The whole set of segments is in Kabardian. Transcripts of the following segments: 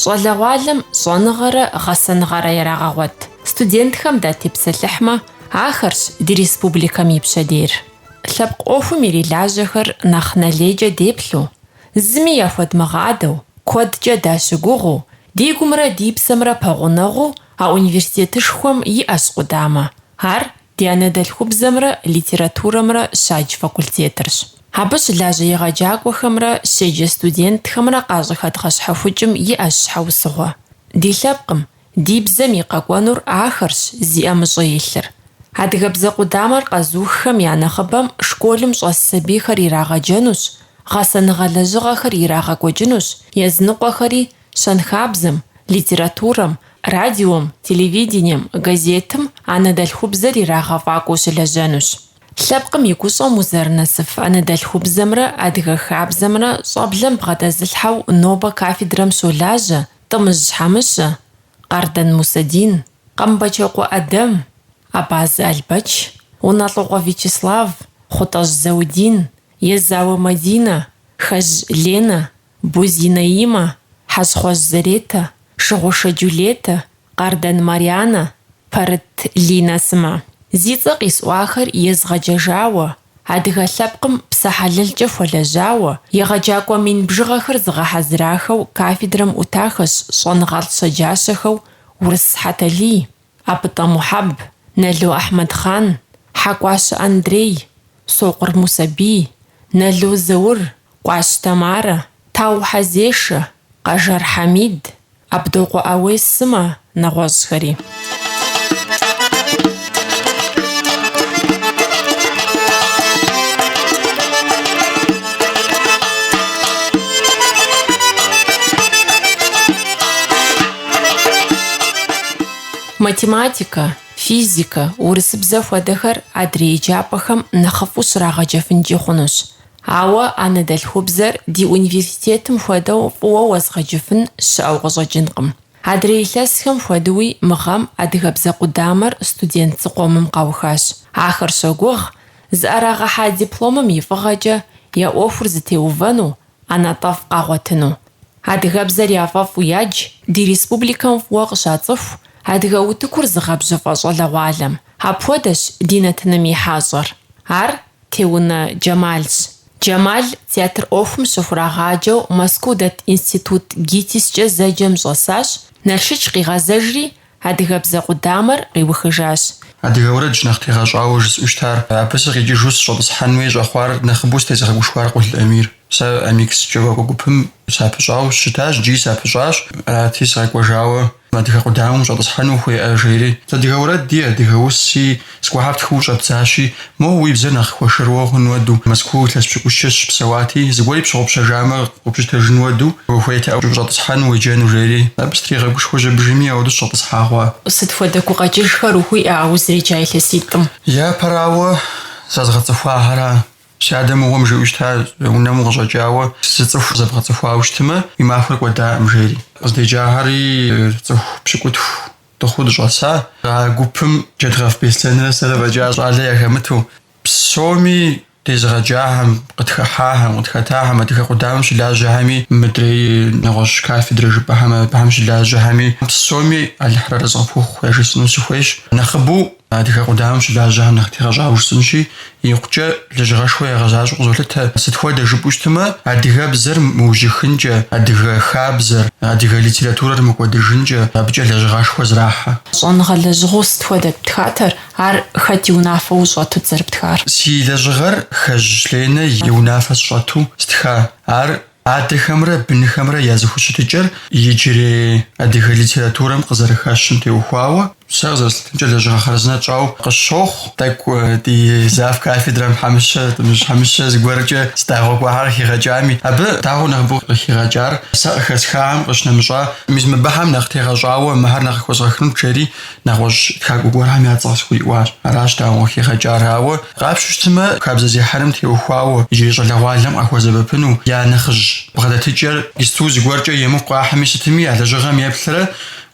Щӏалэгъуалэм щӏэныгъэрэ гъэсэныгъэрэ ярагъэгъуэт студентхэм датепсэлъыхьмэ, ахэрщ ди республикэм и пщэдейр. Лъэпкъ ӏуэхум ирилажьэхэр нэхъ нэлейкӏэ деплъу, зыми яхуэдмыгъадэу, куэдкӏэ дащыгугъыу, ди гумрэ ди псэмрэ пэгъунэгъуу а университетышхуэм иӏэщ къудамэ, ар ди анэдэлъхубзэмрэ литературэмрэ щадж факультетырщ. Абы щылажьэ егъэджакӏуэхэмрэ щеджэ студентхэмрэ къащӏыхэдгъэщхьэхукӏым иӏэщ щхьэусыгъуэ. Ди лъэпкъым, ди бзэм и къэкӏуэнур ахэрщ зи ӏэмыщӏэ илъыр. Адыгэбзэ къудамэр къэзуххэм я нэхъыбэм школым щӏэс сабийхэр ирагъэджэнущ, гъэсэныгъэ лэжьыгъэхэр ирагъэкӏуэкӏынущ, языныкъуэхэри Щэнхабзэм, литературэм, радиом, телевидением, газетым анэдэлъхубзэр ирагъэфӏакӏуэу щылэжьэнущ. Лъэпкъым и гущӏэм узэрынэсыф анэдэлъхубзэмрэ адыгэ хабзэмрэ щӏэблэм бгъэдэзылъхьэу нобэ кафедрэм щолажьэ Тӏымыжь Хьэмыщэ, Къардэн Мусэдин, Къэмбэчокъуэ Адэм, Абазэ Албэч, Унэлӏокъуэ Вячеслав, Хъутӏэжь Заудин, Езауэ Мадинэ, Хэжь Ленэ, Бозий Наимэ, Хьэщхъуэжь Заретэ, Шыгъушэ Джулетэ, Къардэн Марианэ, Пэрыт Линэ сымэ. Зи цӏэ къисӏуахэр езгъэджэжауэ, адыгэ лъэпкъым псэ хьэлэлкӏэ хуэлэжьауэ, егъэджакӏуэ мин бжыгъэхэр зыгъэхьэзырахэу кафедрэм ӏутахэщ щӏэныгъэлӏ щэджащэхэу Урыс Хьэталий, Абытӏэ Мухьэб, Нало Ахьмэдхъан, Хьэкӏуащэ Андрей, Сокъур Мусэрбий, Нало Заур, Къуащ Тамарэ, Тау Хьэзешэ, Къэжэр Хьэмид, Абдокъуэ Ауес сымэ, нэгъуэщӏхэри. Математикэ, физикэ, урысыбзэ хуэдэхэр адрей еджапӏэхэм нэхъыфӏу щрагъэджэфынкӏи хъунущ. Ауэ анэдэлъхубзэр ди университетым хуэдэу фӏыуэ уэзгъэджыфын щыӏэу къыщӏэкӏынкъым. Адрей илъэсхэм хуэдэуи мы гъэм адыгэбзэ къудамэр студент зыкъомым къаухащ. Ахэр щогугъ, зыӏэрагъэхьа дипломым и фӏыгъэкӏэ я ӏуэхур зытеувэну, ӏэнатӏэфӏ къагъуэтыну. Адыгэбзэр яфӏэфӏу ядж ди республикэм фӏыуэ къыщацӏыху адыгэ утыкур зыгъэбжьыфӏэ щӏалэгъуалэм. Апхуэдэщ ди нэтыным и хьэщӏэр. Ар Теунэ Джэмалщ. Джэмал театр ӏуэхум щыхурагъаджэу Мэзкуу дэт институт ГИТИС-кӏэ зэджэм щӏэсащ, Налшыч къигъэзэжри, Адыгэбзэ къудамэр къиухыжащ. Адыгэ уэрэдщ нэхъ тегъэщӏауэ жысӏущтар. Абы сыкъикӏыжу сыщӏэтӏысхьэнуи щӏэхъуар нэхъыбэу сытезыгъэгушхуар Къул Амир. Сэ Амикс джэгуакӏуэ гупым сапыщӏауэ щытащ, джи сапыщӏащ. Арати, сыкъэкӏуэжауэ адыгэ къудамэм щӏэтӏысхьэну ухуеӏэ жери. Адыгэ уэрэди, адыгэ уси. Зыгуэхьэр птхыу щӏэбдзащи, моуэ уи бзэр нэхъ хуэшэрыуэ хъун уэду, Москву илъэс пщыкӏущкӏэ сщыпсэуати, зыгуэри пщыгъупщэжамэ, къупщытэжын уэду, ухуейтэӏэ ущӏэтӏысхьэну уеджэну, жери. Абы стригъэгушхуэ жьэбыжыми ауэду сщӏэтӏысхьа хъуа. Сыт хуэдэ гукъэкӏыжхэр ухуиӏэ а узреджа илъэситӏым? Япэрауэ, зэзгъэцӏыхуахьэра. Си адэ мыгъуэм жиӏэу щыта, унэм укъыщӏэкӏауэ, зы цӏыху зэбгъэцӏыхуауэ щытмэ, уи махуэр кӏуэдаӏым, жери. Къыздеджахьэри цӏыху пщыкӏутху Дыхъуу дыщӏэса. А гупым Джэдгъэф Беслъэнрэ сэрэ фӏэкӏа щӏалэ яхэмыту, псоми дезыгъэджахэм, къытхыхьахэм, къытхэтахэм, адыгэ къудамэм щылажьэхэми, мыдрей нэгъуэщӏ кафедрэ жыпӏэхэм абыхэм щылажьэхэми, псоми Алыхьыр арэзы къыпхухъу яжесӏэну сыхуейщ. Нэхъыбэу Адыгэ къудамэм щылажьэхэм нэхъ тегъэщӏауэ жысӏэнщи, икъукӏэ лэжьыгъэшхуэ ягъэзащӏэу къызолъытэ. Сыт хуэдэ жыпӏэу щытмэ, адыгэбзэр мыужьыхынкӏэ, адыгэ хабзэр, адыгэ литературэр мыкӏуэдыжынкӏэ абыкӏэ лэжьыгъэшхуэ зрахьэ. Щӏэныгъэ лэжьыгъэу сыт хуэдэт птхатэр, ар хэт и унафэ ущӏэтут зэрыптхар? Си лэжьыгъэр Хэжь Ленэ и унафэ сщӏэту стха. Ар Адэхэмрэ бынхэмрэ я зэхущытыкӏэр иджырей адыгэ литературэм къызэрыхэщым теухуауэ, сэ къызэрыслъытэмкӏэ, лэжьыгъэ хъарзынэ тщӏауэ къысщохъу. Тӏэкӏу ди зав. кафедрэм Хьэмыщэ, Тӏымыжь Хьэмыщэ зыгуэркӏэ си дагъуэ гуэхьэр къыхигъэкӏами, абы дагъуэу нэхъыбэу къыхигъэкӏар сэ къыхэсхахэм къыщынэмыщӏа мис мыбыхэм нэхъ тегъэщӏауэ мыхьэр нэхъ къыхуэзгъэхынут жери, Нэгъуэщӏ тхакӏуэ гуэрхэм я цӏэ къысхуриӏуащ. Аращ дагъуэу хигъэкӏар. Ауэ къапщу щытмэ, хабзэзехьэрэм теухуауэ, иджырей щӏалэгъуалэм къахуэсэбэпыну я нэхъыжь бгъэдэтыкӏэр исту зыгуэркӏэ емыкӏу къахьми сытми, а лэжьыгъэм еплърэ,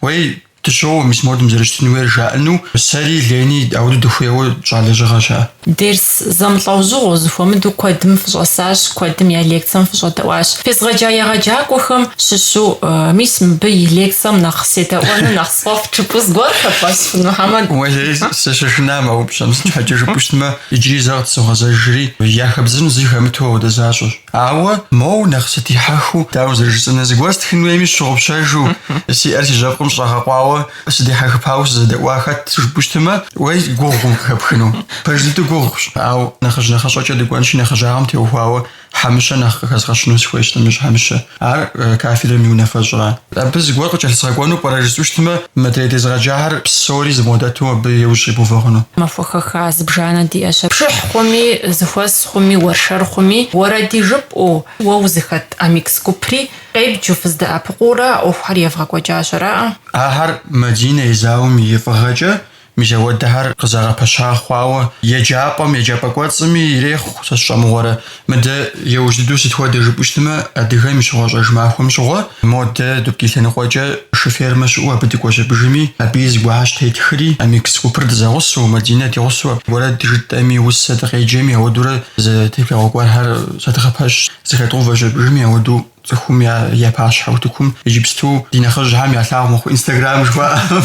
Уей, дыщоуэ мис модым зэрыщытын хуейр жаӏэну, сэри, Лени, ауэду дыхуейуэ тщӏа лэжьыгъэщ ар. Дерс Зэмылӏэужьыгъуэу, зыхуэмыдэу куэдым фыщӏэсащ, куэдым я лекцэм фыщӏэдэӏуащ. Фезгъэджа егъэджакӏуэхэм щыщу, мис мыбы и лекцэм нэхъ седэӏуэну нэхъ сфӏэфӏ жыпӏу зыгуэр хэбгъэщыфын, Мухьэмэд? Уей, сыщышынам а упщӏэм, сыт щхьэкӏэ жыпӏэу щытмэ, иджыри зэ къытсогъэзэжри, яхэбдзын зы хэмыту ауэдэ защӏэщ. Ауэ, моу, нэхъ сыдихьэхыу, дауэ зэрыжысӏэнур, зыгуэр стхын хуейми сщыгъупщэжу, си ӏэр си жьэпкъым щӏэгъэкъуауэ, Сыдихьэхыпауэ сызэдэӏуа хэт жыпӏэу щытымэ, уей гугъум къыхэпхыну. Пэж дыду гугъущ, ауэ нэхъыжь нэхъыщӏэкӏэ дыкӏуэнщи, нэхъыжьагъэм теухуауэ Хьэмыщэ нэхъ къыхэзгъэщыну сыхуейщ, Тӏымыжь Хьэмыщэ. Ар кафедрэм и унафэщӏра. Абы зыгуэр къыкӏэлъысгъэкӏуэну пӏэрэ жысӏэу щытымэ, мыдрей дезыгъэджахэр псори зым хуэдэ дыду абы и ужь иувэ хъуну. Махуэ хэха зыбжанэ диӏэщ, пшыхь хъуми, зэхуэс хъуми, уэршэр хъуми, уэрэди жыпӏэу, уэ узыхэт Амикс гупри, Къебджу, фыздэӏэпыкъуурэ а ӏуэхухэр евгъэкӏуэкӏа щӏэракъэ? Ахэр Мадинэ Езауэм и фӏыгъэкӏэ мис ауэдэхэр къызэгъэпэща хъуауэ, еджапӏэм, еджапӏэ кӏуэцӏми ирехъу, сэ сщӏэмыгъуэрэ. Мыдэ еужь дыдэу сыт хуэдэ жыпӏэу щытмэ, адыгэм и щыгъуэщӏэж махуэм щыгъуэ, модэ, Дубки лъэныкъуэкӏэ шы фермэ щыӏэу абы дыкӏуэщ абыжми, абыи зыгуэрхэр щытетхри, Амикс гупыр дызэгъусэу, Мадинэ дигъусэу, уэрэд жытӏэми, усэ дыкъеджэми, ауэдурэ зы теплъэгъуэ гуэрхэр зэдгъэпэщ. Зэхэдгъэувэщ абыжым ауэду цӏыхум я я пащхьэ утыкум иджыпсту ди нэхъыжьхэм ялъагъу мыхъу инстаграм жыхуаӏэм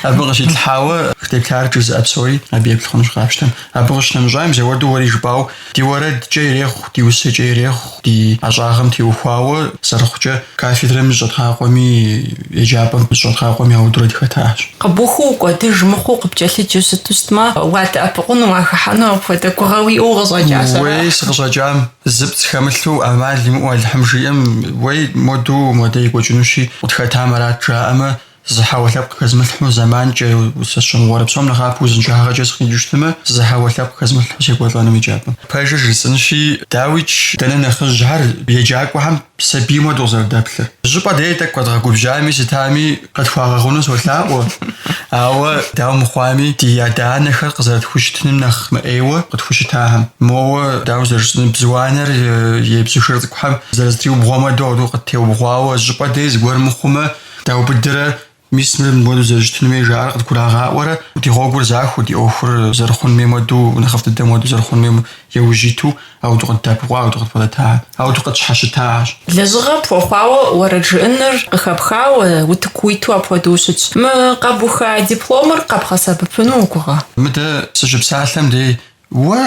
абы къыщитлъхьауэ къытеплъар жызыӏэ псори абы еплъ хъунущ къапщтэм. Абы къыщынэмыщӏа мис ауэду уэри жыпӏау ди уэрэдкӏэ ирехъу, ди усэкӏэ ирехъу, ди ӏэщӏагъэм теухуауэ зэрыхъукӏэ кафедрэм зыщӏэдгъакъуэми еджапӏэм зыщӏэдгъакъуэми ауэдурэ дыхэтащ. Къыбухыу укӏуэдыж мыхъуу къыпкӏэлъыджу щыту щытмэ, уадэӏэпыкъуну, уахэхьэну апхуэдэ гугъэ уиӏэу укъыщӏэкӏа? Сэ, уей, сыкъыщӏэкӏам. Зыпцӏ хэмылъу ӏэмал имыӏэу Алыхьым жиӏэм, уей, моду модэ екӏуэкӏынущи, къытхэтам арат, жаӏэмэ, зы хьэуэ лъэпкъ хэзмылъхьу зэманкӏэ, сэ сщӏэмыгъуэрэ псом нэхъапэу узыншагъэкӏэ сыкъикӏыу щытымэ, зы хьэуэ лъэпкъ хэзмылъхьу секӏуэлӏэнум еджапӏэм. Пэжыр жысӏынщи, дауикӏ, дэнэ нэхъыжьхэр еджакӏуэхэм сабийм уэду къызэрыдэплъыр. Щӏыпӏэ дей тӏэкӏу къэдгъэгубжьами, сытами къытхуагъэгъуну солъаӏуэ, ауэ дауэ мыхъуами, ди адэ-анэхэр къызэрытхущытыным нэхъ мыӏейуэ къытхущытахэм, моуэ дауэ зэрыжысӏэн, бзу анэр и бзу шыр цӏыкӏухэм зэрызэтриубгъуам хуэдэу къыттеубгъуауэ, щӏыпӏэ дей зыгуэр мыхъумэ, даубыдрэ Мис мыр мыпхуэдэу зэрыщытын хуей жаӏэр къыдгурагъаӏуэрэ, ди гъуэгур захуэу, ди ӏуэхур зэрыхъунум хуейм хуэдэу, нэхъыфӏ дыдэм хуэдэу зэрыхъунум хуейм яужь иту, ауэду къыддэӏэпыкъуа, ауэду къыдбгъэдэта, ауэду къытщхьэщытащ. Лэжьыгъэ пхуэхъуауэ уэрэд жыӏэныр къыхэпхауэ, утыку уиту апхуэдэу щытщ. Мы къэбуха дипломыр къэбгъэсэбэпыну угугъэ? Мыдэ сыщыпсалъэм дей Уэ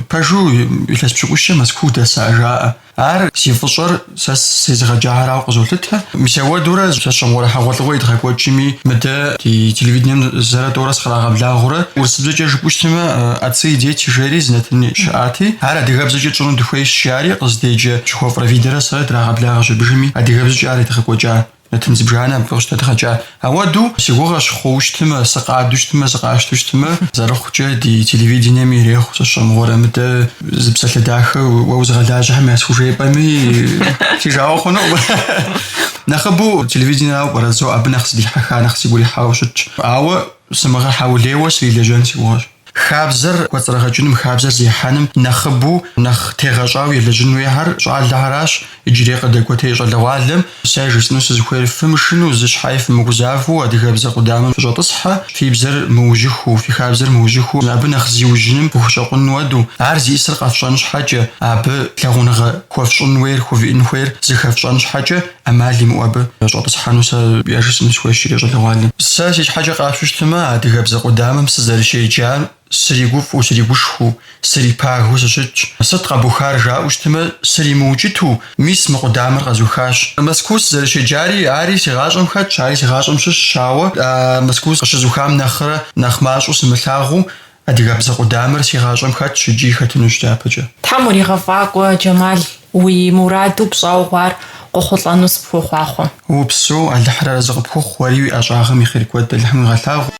пэжу илъэс пщыкӏущкӏэ Мэзкуу удэса жаӏэ. Ар зи фӏыщӏэр сэ сезыгъэджахэрауэ къызолъытэ. Мис ауэдурэ сэ сщӏэмыгъуэрэ хьэгъуэлӏыгъуэ едгъэкӏуэкӏми, мыдэ ди телевидением зэрэ тӏорэ сыкърагъэблагъэурэ, урысыбзэкӏэ жыпӏэу щытмэ, Отцы и дети жери зы нэтын щыӏати, ар адыгэбзэкӏэ тщӏыну дыхуейщ, жари, къыздеджэ Чехов Равидэрэ сэрэ драгъэблагъэщ абыжми адыгэбзэкӏэ ар едгъэкӏуэкӏа. Нэтын зыбжанэ абы къыщыдэдгъэкӏа. Ауэдэу си гугъэщ хъууэ щытмэ, сыкъадэу щытмэ, сыкъащтэу щытмэ, зэрыхъукӏэ ди телевидениеми ирехъу сэ сщӏэмыгъуэрэ, мыдэ зы псалъэ дахэ уэ узыгъэлажьэхэм ясхужепӏэми си жагъуэ хъунукъым. Нэхъыбэу телевидениерауэ пӏэрэ зо абы нэхъ сыдихьэха, нэхъ сигу ирихьауэ щытщ. Ауэ сымыгъэхьэулейуэ срилэжьэн си гугъэщ. Хабзэр кӏуэцӏрыгъэкӏыным, хабзэр зехьэным нэхъыбэу, нэхъ тегъэщӏауэ елэжьын хуейхэр щӏалэхэращ. Иджырей къыдэкӏуэтей щӏалэгъуалэм сэ жысӏэну сызыхуейр, фымышыну, зы щхьэи фымыгузавэу адыгэбзэ къудамэм фыщӏэтӏысхьэ, фи бзэр мыужьыхыу, фи хабзэр мыужьыхыу, абы нэхъ зиужьыным фыхущӏэкъун уэду, ар зищӏысыр къэфщӏэн щхьэкӏэ, абы лъагъуныгъэ хуэфщӏын хуейр, хувиӏын хуейр зыхэфщӏэн щхьэкӏэ, ӏэмал имыӏэу абы щӏэтӏысхьэну сэ яжысӏэну сыхуейщ иджырей щӏалэгъуалэм. Сэ си щхьэкӏэ къащтэу щытмэ, адыгэбзэ къудамэм сызэрыщеджар сригуфӏу, сригушхуэу, срипагэу сыщытщ. Сыт къэбухар жаӏэу щытмэ, сримыукӏыту, мис мы къудамэр къэзухащ. Мэзкуу сызэрыщеджари, ари си гъащӏэм хэтщ, ари си гъащӏэм щыщщ, ауэ а Мэзкуу къыщызухам нэхърэ нэхъ мащӏэу сымылъагъуу, Адыгэбзэ къудамэр си гъащӏэм хэтщ икӏи хэтынущ дяпэкӏэ. Тхьэм уригъэфӏакӏуэ, Джэмал, уи мураду пщӏэугъуар къохъулӏэну сыпхуохъуахъуэ. Упсэу, Алыхьыр арэзы къыпхухъу, уэри уи ӏэщӏагъэм и хъер куэд Алыхьым уигъэлъагъу.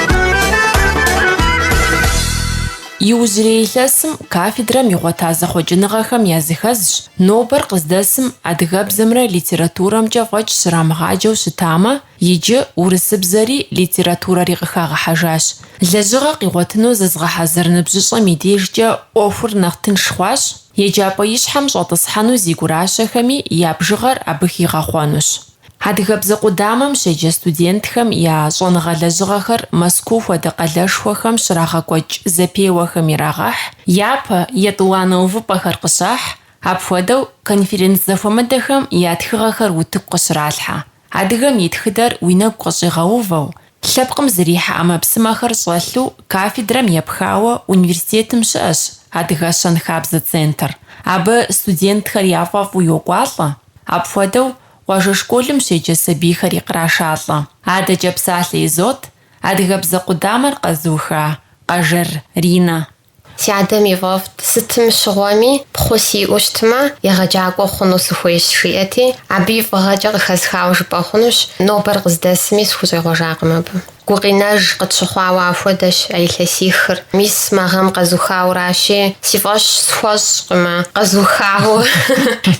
Иужьрей илъэсым кафедрэм игъуэта зэхъуэкӏыныгъэхэм языхэзщ нобэр къыздэсым адыгэбзэмрэ литературэмкӏэ фӏэкӏ щрамыгъаджэу щытамэ, иджы урысыбзэри литературэри къыхагъэхьэжащ. Лэжьыгъэ къигъуэтыну зызыгъэхьэзыр ныбжьыщӏэм и дежкӏэ ӏуэхур нэхъ тынш хъуащ, еджапӏэ ищхьэм щӏэтӏысхьэну зи гуращэхэми я бжыгъэр абы хигъэхъуэнущ. Адыгэбзэ къудамэм щеджэ студентхэм я щӏэныгъэ лэжьыгъэхэр Мэзкуу хуэдэ къалэшхуэхэм щрагъэкӏуэкӏ зэпеуэхэм ирагъэхь, япэ, етӏуанэ увыпӏэхэр къыщахь, апхуэдэу конференц зэхуэмыдэхэм я тхыгъэхэр утыку къыщралъхьэ. Адыгэм и тхыдэр уи нэгу къыщӏигъэувэу, Лъэпкъым зрихьэ ӏэмэпсымэхэр щӏэлъу кафедрэм епхауэ университетым щыӏэщ Адыгэ щэнхабзэ центр. Абы студентхэр яфӏэфӏу йокӏуалӏэ. Апхуэдэу къуажэ школым щеджэ сабийхэри кърашалӏэ. Адэкӏэ псалъэ изот адыгэбзэ къудамэр къэзуха Къэжэр Ринэ. Си адэм ифӏэфӏт, сытым щыгъуэми пхъу сиӏэу щытмэ, егъэджакӏуэ хъуну сыхуейщ, жиӏэти, абы и фӏыгъэкӏэ къыхэсхауэ жыпӏэ хъунущ, нобэр къыздэсми сыхущӏегъуэжакъым абы. Гукъинэж къытщыхъуауэ ахуэдэщ а илъэсихыр, мис мы гъэм къэзухауращи, си фӏэщ схуэщӏкъым а къэзухауэ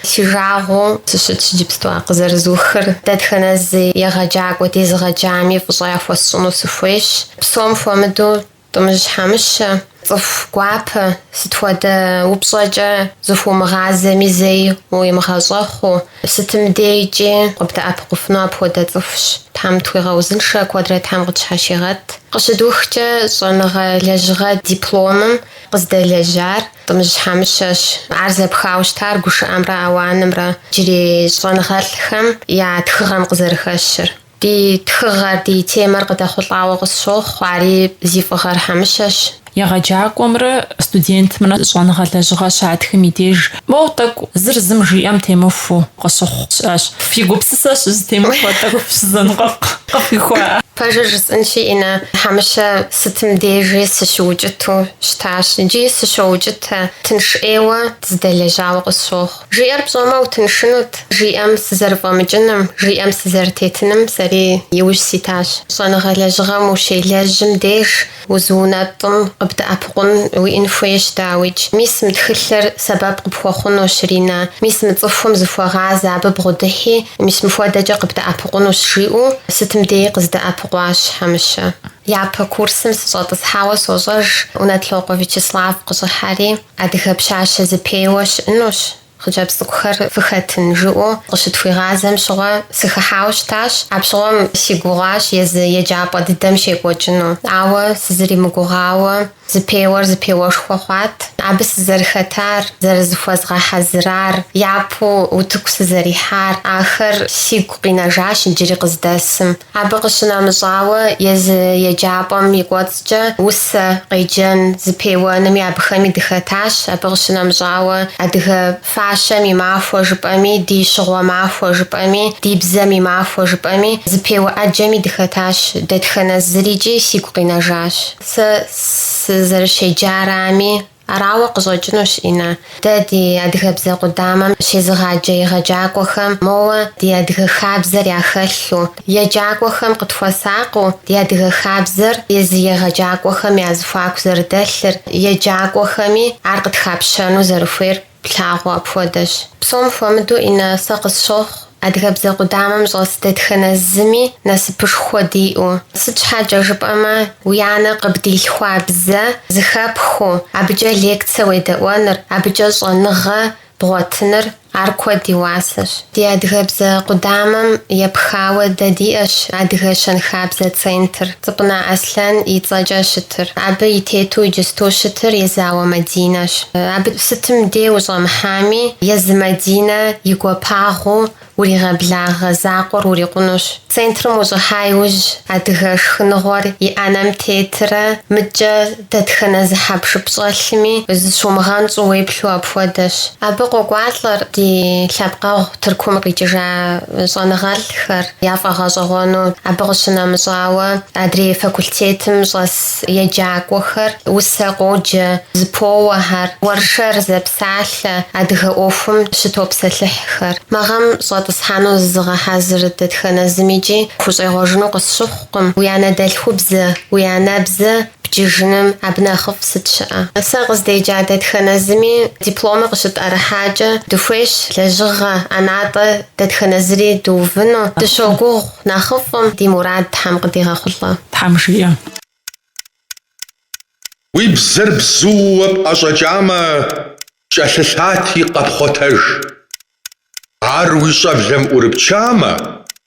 си жагъуэу сыщытщ иджыпсту а къызэрызухыр. Дэтхэнэ зы егъэджакӏуэ дезыгъэджами фӏыщӏэ яхуэсщӏыну сыхуейщ, псом хуэмыдэу. Тӏымыжь Хьэмыщэ, цӏыху гуапэ, сыт хуэдэ упщӏэкӏэ зыхуумыгъазэми зэи уимыгъэщӏэхъуу, сытым дейкӏи къыбдэӏэпыкъуфыну апхуэдэ цӏыхущ. Тхьэм тхуигъэузыншэ куэдрэ Тхьэм къытщхьэщигъэт. Къыщыдухкӏэ, щӏэныгъэ лэжьыгъэ дипломым къыздэлэжьар Тӏымыжь Хьэмыщэщ. Ар зэпхауэ щытар гушыӏэмрэ ауанымрэ, иджырей щӏэныгъэлӏхэм я тхыгъэм къызэрыхэщыр. Ди тхыгъэр, ди темэр къыдэхъулӏауэ къысщохъу, ари зи фӏыгъэр Хьэмыщэщ. Егъэджакӏуэмрэ студентымрэ щӏэныгъэ лэжьыгъэ щатхым и деж, моуэ, тӏэкӏу зыр зым жиӏэм темыхуу къыщыхъу щыӏэщ. Фи гупсысэ щызытемыхуэ тӏэкӏу фыщызэныкъуэкъу къыфхуихуа? Пэжыр жысӏынщи, Инна, Хьэмыщэ сытым дежи сыщыукӏыту щытащ. Иджи сыщоукӏытэ, тынш ӏейуэ дызэдэлэжьауэ къысщохъу. Жиӏэр пщӏэмэ, утыншынут, жиӏэм сызэрыфӏэмыкӏыным, жиӏэм сызэрытетыным сэри иужь ситащ. Щӏэныгъэ лэжьыгъэм ущелэжьым деж узыунэтӏым къыбдэӏэпыкъун уиӏын хуейщ, дауикӏ. Мис мы тхылъыр сэбэп къыпхуэхъунущ, Ринэ. Мис мы цӏыхум зыхуэгъазэ абы бгъудыхьи, мис мыхуэдэкӏэ къыбдэӏэпыкъунущ, жиӏэу сытым деи къыздэӏэпыкъуащ Хьэмыщэ. Япэ курсым сыщӏэтӏысхьауэ сощӏэж, Унэлӏокъуэ Вячеслав къыщӏыхьэри, Адыгэ пщащэ зыпеуэ щыӏынущ, хъыджэбз цӏыкӏухэр фыхэтын, жиӏэу къыщытхуигъазэм щыгъуэ сыхыхьауэ щытащ. Апщыгъуэм си гугъащ езы еджапӏэ дыдэм щекӏуэкӏыну, ауэ сызэримыгугъауэ, зыпеуэр зыпеуэшхуэ хъуат. Абы сызэрыхэтар, зэрызыхуэзгъэхьэзырар, япэу утыку сызэрихьар, ахэр сигу къинэжащ иджыри къыздэсым. Абы къыщынэмыщӏауэ, езы еджапӏэм и кӏуэцӏкӏэ усэ къеджэн зыпеуэными абыхэми дыхэтащ. Абы къыщынэмыщӏауэ, адыгэ фащэм и махуэ жыпӏэми, ди щыгъуэ махуэ жыпӏэми, ди бзэм и махуэ жыпӏэми, зыпеуэ ӏэджэми дыхэтащ. Дэтхэнэ зырикӏи сигу къинэжащ. Сэ сызэрыщеджарами, Арауэ къыщӏэкӏынущ, Инна. Дэ ди адыгэбзэ къудамэм щезыгъаджэ егъэджакӏуэхэм, моуэ ди адыгэ хабзэр яхэлъу, еджакӏуэхэм къытхуэсакъыу, ди адыгэ хабзэр езы егъэджакӏуэхэм я зыхуаку зэрыдэлъыр, еджакӏуэхэми ар къытхапщэну зэрыхуейр. Плъагъу апхуэдэщ. Псом хуэмыдэу Инна сэ къысщохъу адыгэбзэ къудамэм щӏэс дэтхэнэ зыми насыпышхуэ диӏэу. Сыт щхьэкӏэ жыпӏэмэ, уи анэ къыбдилъхуа бзэ зыхэпхыу, абыкӏэ лекцэ уедэӏуэныр, абыкӏэ щӏэныгъэ бгъуэтыныр ар куэд и уасэщ. Ди адыгэбзэ къудамэм епхауэ дэ диӏэщ Адыгэ щэнхабзэ центр. Цӏыпӏынэ Аслъэн и цӏэкӏэ щытыр, абы и тету иджыстэу щытыр Езауэ Мадинэщ. Абы сытым дей ущӏэмыхьами, езы Мадинэ и гуапагъыу уригъэблагъэ закъуэр урикъунущ. Центрым ущӏыхьа иужь, адыгэ шхыныгъуэр и ӏэнэм тетрэ, мыдкӏэ дэтхэнэ зы хьэпшып щӏэлъми зыщумыгъэнщӏу уеплъу апхуэдэщ. Абы къокӏуалӏэр ди лъэпкъэгъу Тыркум къикӏыжа щӏэныгъэлӏхэр. яфӏэгъэщӏэгъуэну, абы къыщынэмыщӏауэ, адрей факультетым щӏэс еджакӏуэхэр усэ къоджэ, зэпоуэхэр, уэршэр зэпсалъэ адыгэ ӏуэхум щытопсэлъыхьхэр. Мы гъэм щӏэтӏысхьэну зызыгъэхьэзыр дэтхэнэ зымикӏи хущӏегъуэжыну къысщыхъукъым, уи анэдэлъхубзэ, уи анэбзэ Бджыжыным абы нэхъыфӏ сыт щыӏэ? Сэ къыздеджа дэтхэнэ зыми дипломыр къыщытӏэрыхьакӏэ, дыхуейщ лэжьыгъэ ӏэнатӏэ дэтхэнэ зыри дыувыну. Дыщогугъу нэхъыфӏым, ди мурад Тхьэм къыдигъэхъулӏэ. Тхьэм жиӏэ. Уи бзэр бзууэ пӏэщӏэкӏамэ, кӏэлъылъати, къэпхъуэтэж. Ар уи щӏэблэм ӏурыпчамэ,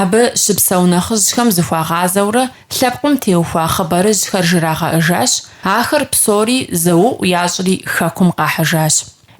Абы щыпсэу нэхъыжьхэм зыхуагъазэурэ лъэпкъым теухуа хъыбарыжьхэр жрагъэӏэжащ, ахэр псори зэуӏу ящӏри Хэкум къахьыжащ.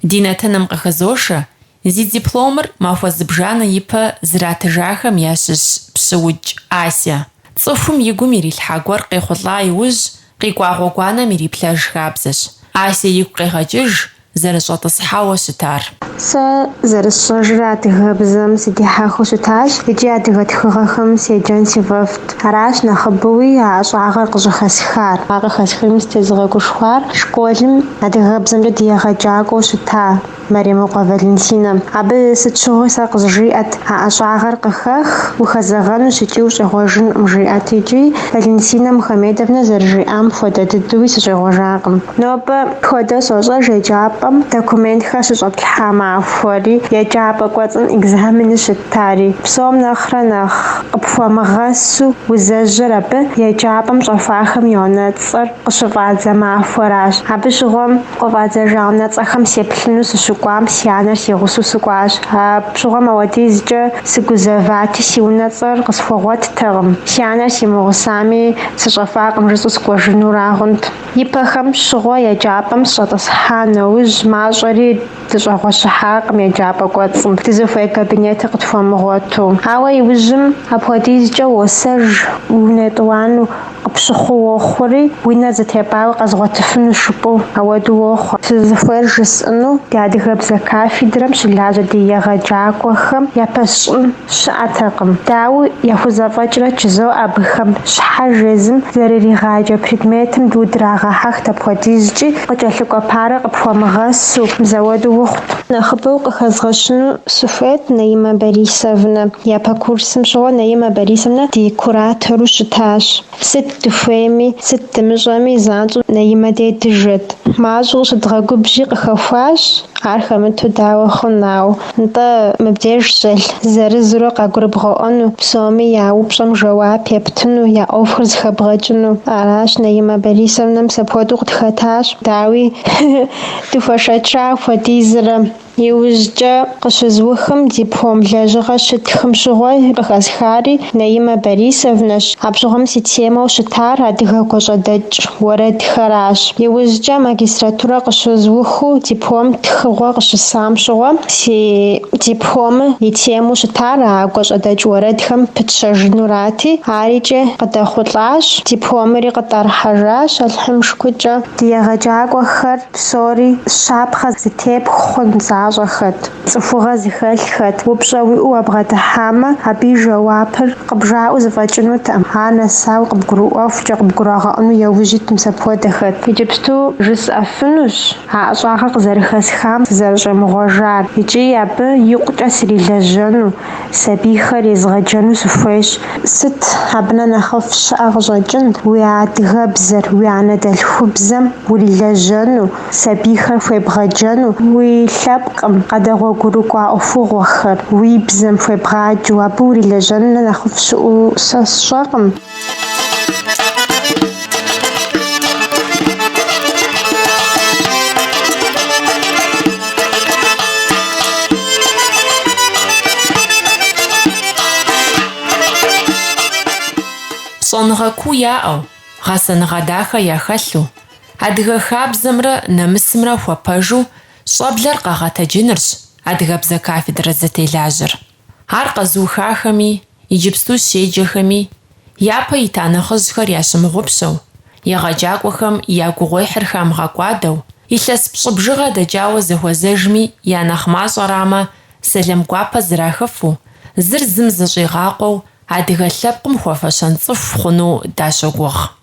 Ди нэтыным къыхызошэ, зи дипломыр махуэ зыбжанэ ипэ зратыжахэм ящыщ Пщыукӏ Ася. Цӏыхум и гум ирилъхьа гуэр къехъулӏа иужь, къикӏуа гъуэгуанэм ириплъэж хабзэщ. Ася игу къегъэкӏыж, зэрыщӏэтӏысхьауэ щытар. Сэ зэрысщӏэжыр адыгэбзэм сыдихьэхыу щытащ икӏи адыгэ тхыгъэхэм седжэн сифӏэфӏт. Аращ нэхъыбэуи а ӏэщӏагъэр къыщӏыхэсхар. А къыхэсхэми сытезыгъэгушхуар школым адыгэбзэмкӏэ ди егъэджакӏуэу щыта Мэремыкъуэ Валентинэм. Абы сыт щыгъуи сэ къызжиӏэт а ӏэщӏагъэр къыхэх, ухэзэгъэнущ икӏи ущӏегъуэжынкъым жиӏэт икӏи Валентинэ Мухамедовнэ зэрыжиӏам хуэдэ дыдэуи сыщӏегъуэжакъым. Нобэ хуэдэу сощӏэж еджапӏэм документхэр щыщӏэтлъхьа махуэри, еджапӏэ кӏуэцӏым экзаменыр щыттари. Псом нэхърэ нэхъ къыпхуэмыгъэсу узэжьэр абы еджапӏэм щӏэхуахэм я унэцӏэр къыщыфӏадзэ махуэращ. Абы щыгъуэм Къыфӏадзэжа унэцӏэхэм сеплъыну сыщыкӏуам си анэр си гъусэу сыкӏуащ. Апщыгъуэм ауэдизкӏэ сыгузэвати, си унэцӏэр къысхуэгъуэттэкъым. Си анэр симыгъусами, сыщӏэхуакъым жысӏэу сыкӏуэжынура хъунт. Ипэхэм щыгъуэ еджапӏэм сыщӏэтӏысхьа нэужь, мащӏэри Дыщӏэгъуэщыхьакъым еджапӏэ кӏуэцӏым, дызыхуей кабинетыр къытхуэмыгъуэту. Ауэ иужьым апхуэдизкӏэ уосэж, уи унэ етӏуанэу къыпщыхъуу уохъури, уи нэр зэтепӏауэ къэзгъуэтыфынущ жыпӏэу ауэду уохъуэ. Сызыхуейр жысӏэну, ди адыгэбзэ кафедрэм щылажьэ ди егъэджакӏуэхэм япэсщӏын. щыӏэтэкъым, дауэ, яхузэфӏэкӏрэ жызоӏэ абыхэм щхьэж езым зэрыригъаджэ предметым дыдрагъэхьэхт апхуэдизкӏи, къыкӏэлъыкӏуэ парэ къыпхуэмыгъэсу, мис ауэду ухъут. Нэхъыбэу къыхэзгъэщыну сыхуейт Наимэ Борисовнэ. Япэ курсым щыгъуэ Наимэ Борисовнэ ди куратору щытащ. Сыт дыхуейми, сыт дымыщӏэми, занщӏэу Наимэ дей дыжэт. Мащӏэу щыдгъэгубжьи къыхэхуащ, ар хэмыту дауэ хъун, ауэ, нтӏэ, мыбдеж щӏэлъ, зырызурэ къагурыбгъэӏуэну, псоми я упщӏэм жэуап ептыну, я ӏуэхур зыхэбгъэкӏыну. Аращ Наимэ Борисовнэ мис апхуэдэу къытхэтащ, дауи, дыхуэшэча хуэдизрэ. Иужькӏэ къыщызыухым диплом лэжьыгъэ щытхым щыгъуэ къыхэсхари Наимэ Борисовнэщ. Абщыгъуэм си темэу щытар адыгэ гуащӏэдэкӏ уэрэдхэращ. Иужькӏэ магистратурэ къыщызыухыу диплом тхыгъуэ къыщысам щыгъуэ си дипломыр и темэу щытар а гуащӏэдэкӏ уэрэдхэм пытщэжынурати, арикӏи къыдэхъулӏащ, дипломыри къытӏэрыхьэжащ, Алыхьым и шыкуркӏэ. Ди егъэджакӏуэхэр Псори щапхъэ зытепх хъун защӏэхэт, цӏыхугъэ зыхэлъхэт. Упщӏэ уиӏэу уабгъэдыхьамэ, абы и жэуапыр къыбжаӏэу зэфӏэкӏынутэкъым. Ар нэсауэ къыбгурыӏуэхукӏэ, къыбгурагъэӏуэну яужь ит мис апхуэдэхэт. Иджыпсту жысӏэфынущ а ӏэщӏагъэр къызэрыхэсхам сызэрыщӏемыгъуэжар икӏи абы икъукӏэ срилэжьэну. сабийхэр езгъэджэну сыхуейщ. Сыт абы нэ нэхъыфӏ щыӏэ къыщӏэкӏын, уи адыгэбзэр, уи анэдэлъхубзэм урилэжьэну, сабийхэр хуебгъэджэну, уи лъэпкъым къэдэгъуэгурыкӏуа ӏуэхугъуэхэр уи бзэм хуебгъаджэу абы урилэжьэну нэ нэхъыфӏ щыӏэу сэ сщӏэкъым. Щӏэныгъэ куу яӏэу, гъэсэныгъэ дахэ яхэлъу, адыгэ хабзэмрэ нэмысымрэ хуэпэжу щӏэблэр къэгъэтэджынырщ адыгэбзэ кафедрэ зытелажьэр. Ар къэзыухахэми, иджыпсту щеджэхэми, япэ ита нэхъыжьхэр ящымыгъупщэу, егъэджакӏуэхэм я гугъуехьыр хамыгъэкӏуадэу, илъэс пщӏы бжыгъэ дэкӏауэ зэхуэзэжми я нэхъ мащӏэрамэ, сэлэм гуапэ зрахыфу, зыр зым зыщӏигъакъуэу адыгэ лъэпкъым хуэфэщэн цӏыху хъуну дащогугъ.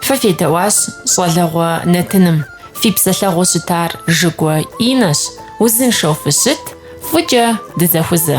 Фэ федэӏуащ Щӏалэгъуэ нэтыным, фи псэлъэгъуу щытар Жыгуэ Инэщ, узыншэу фыщыт, фӏыкӏэ дызэхузэ.